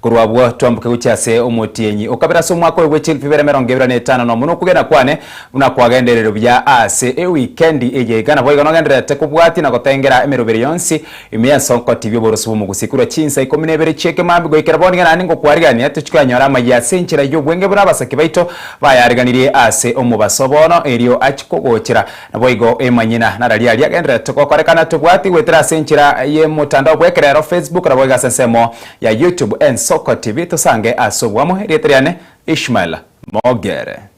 Korwa abwo twamboke gochia ase omotienyi o kabere ase omwaka oyo bwe chielfu ibere emerongo ebere na etano nomo, na okogenda kwane buna kwagenderire buya aase ewikendi eye. Iga naboigo nogendererete kobwatia na gotengera emeroberi yonsi ime y'ensonkoti bi'oboroso bw'omogusii korwa chinsa ikomi na ibere chi'ekemambi goikera bono. Iga naende ngokwarigania tochikonyora amayia ase enchera y'obwenge buna abasake baito bayariganirie aase omobaso bono erio achia kogochera. Naboigo emanyina nararia aria agendererete gokorekana tobwatie goetera ase enchera y'emotandao bw'ekerero, Facebook, naboigo ase ensemo Ya YouTube Ensoko TV tosange ase obwamo erieta riane Ishmael Mogere.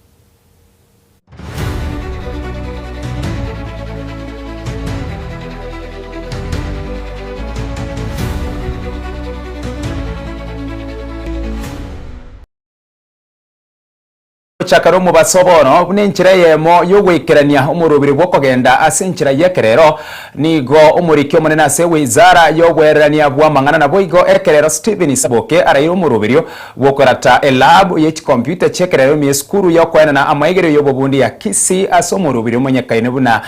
Gochakare omobaso bono, buna enchera eyemo y'ogoikerania omorobire bw'okogenda ase enchera y'ekerero, nigo omoriki omonene ase Wizara y'Ogweererania bw'Amang'ana naboigo ekerero Stephen Saboke araire omoroberio bw'okorata elabu ye chikomputa chi'ekerero ime y'esukuru y'okoenana amaigererio y'obobundi ya Kisii ase omorobiri omonyekaine buna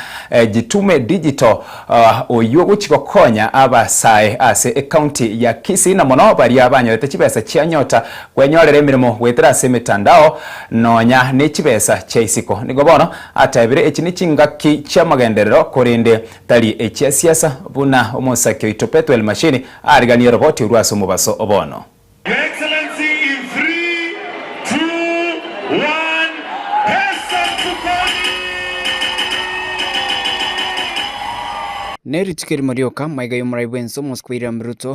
Jitume Digital oyio ogochia gokonya abasae ase ecounty ya Kisii na mono baria banyorete chibesa chia nyota Gwenyorere emeremo goetera ase emetandao, nonya ne chibesa chia isiko. Nigo bono atebire echi nechingaki chi'amagenderero korende tari echia siasa, buna omosake oito Pethuel Mashini ariganie roboti orwo ase omobaso obono. Your Excellency in three, two, one, President Mukoni! Nerituko erimo rioka maiga y'omorai bwense omosubwa William Ruto,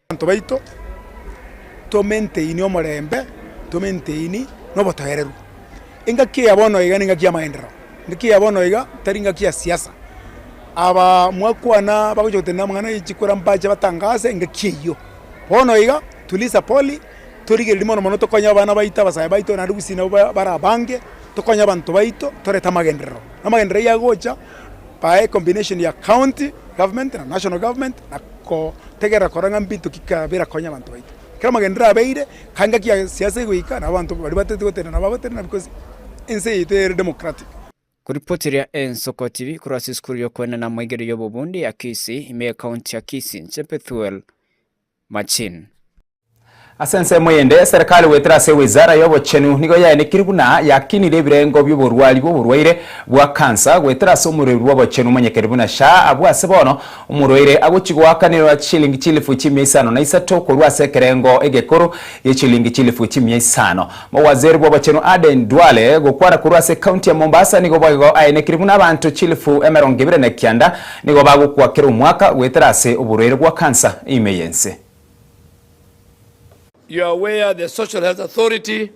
Abanto baito tomaintaini omorembe, tomaintaini na obotoereru. Engaki eye bono iga nengaki y'amaenderero, engaki eye bono iga tari engaki ya siasa. Aba mwakwana bagocha gotenena amang'ana ye chikura mbache batangase engaki eyio. Bono iga tuli sa poli, torigereria mono mono tokonye abana baito, abasae baito, naende gusii nabo bare abange, tokonye abanto baito torete amagenderero. Amagenderero ayio agocha, bae combination ya county government na national government na kotegerera kora ng'a mbinto ki ka birakonya abanto baito. Ekero amagenderero abeire ka engaki ya siasa egoika nabo abanto baria batereti gotenena nabo bagotenena because ense yaito ere democratic. Kuripoti ria Ensoko TV korwa ase esukuru y'okoenena moigeri y'obobundi ya Kisii, ime ye county ya Kisii, inche Pethuel. Machine. Ase ensemo eyende, Serikali goetera ase Wizara y'Obochenu nigo yaenekire buna yakinire ebirengo bi'oborwari bw'oborwaire bwa kansa goetera ase omorweri bw'obochenu omonyekeri buna SHA. Abwo ase bono, omorwaire agochi goakanerwa chishilingi chilifu chimia isano na isato korwa ase ekerengo egekoro gi'echiliingi chilifu chimia isano. Mowaziri bw'obochenu Aden Duale gokwara korwa ase county ya Mombasa nigo boigo aenekire buna abanto chilifu emerongo ebere na kianda nigo bagokwa kera omwaka goetera ase oborwaire bwa cancer ime y'ense. You are aware the Social Health Authority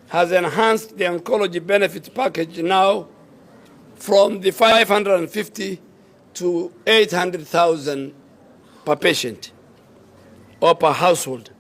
has enhanced the oncology benefit package now from the 550 to 800,000 per patient or per household.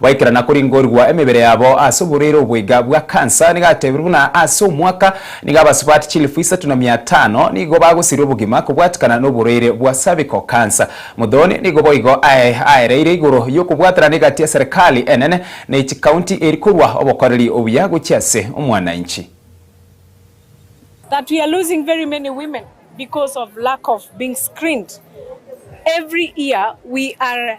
Goikerana koringorigwa emebere yabo ase oborwaire obo iga bwa kansa nigo atebiru buna ase omwaka nigo abasubati chilifu isato na mia tano nigo bagosirwe obogima kobwatikana noborwaire bwa cervical cancer. Muthoni nigo boigo aye aereire igoro yokobwatanana egati ya serikali enene ne chikaunti eri korwa obokoreri obuya gochia ase omwananchi. that we are losing very many women because of lack of being screened every year we are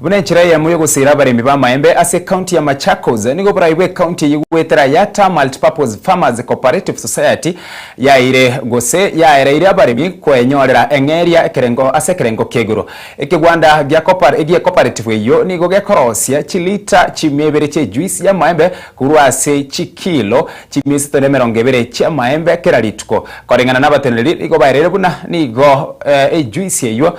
Buna enchera eyemo y'ogosera abaremi b'amaembe ase ekaunti ya Machakos, nigo oborai bw'ekaunti eyio goetera Yatta Multipurpose Farmers Cooperative Society yaeire gose yaereire abaremi koenyorera eng'eria ekerengo ase ekerengo ki'igoro. Ekegwanda gi'ekoparetifu eyio nigo gekorosia chilita chimia ibere chi'ejuice y'amaembe korwa ase chikilo chimia isato na emerongo ebere chi'amaembe kera rituko. Koreng'ana nabateneneri nigo baereire buna nigo ejuice eyio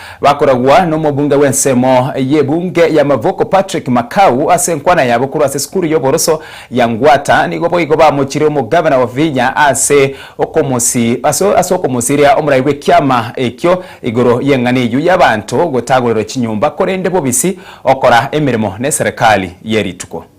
Bakoragwa n'omobunge bw'ensemo y'ebunge ya Mavuko Patrick Makau ase enkwana yabo korwa ase esukuru y'oboroso ya Ngwata nigo boigo bamochire omogavana Wavinya ase ase ase okomosiria omorai bw'ekiama ekio igoro y'eng'ana eyio y'abanto gotagorerwa chinyomba korende bobisi okora emeremo n'eserekari ye rituko.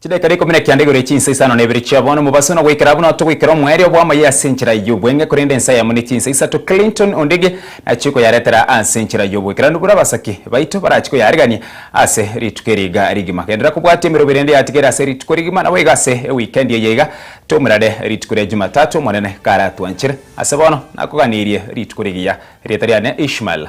Chidaika rikumi na kianda igoro echinsa isano na ibere chia bono mobaso na goikera abwo nao togoikera omoerio bw'amaye ase enchera y'obweng'e korende ensa yamo ne chinsa isato Clinton Ondigi nachie koyaretera ase enchera y'oboikeranu bore abasake baito barachie koyaregania ase rituko eri iga rigima Genderera kobwati emerogo erende yatigaire ase rituko rigima nabo iga ase ewikendi eye iga tomerane rituko ria Jumatatu Omonene karatwanchere ase bono nakoganirie rituko rigiya Erieta riane Ishmael.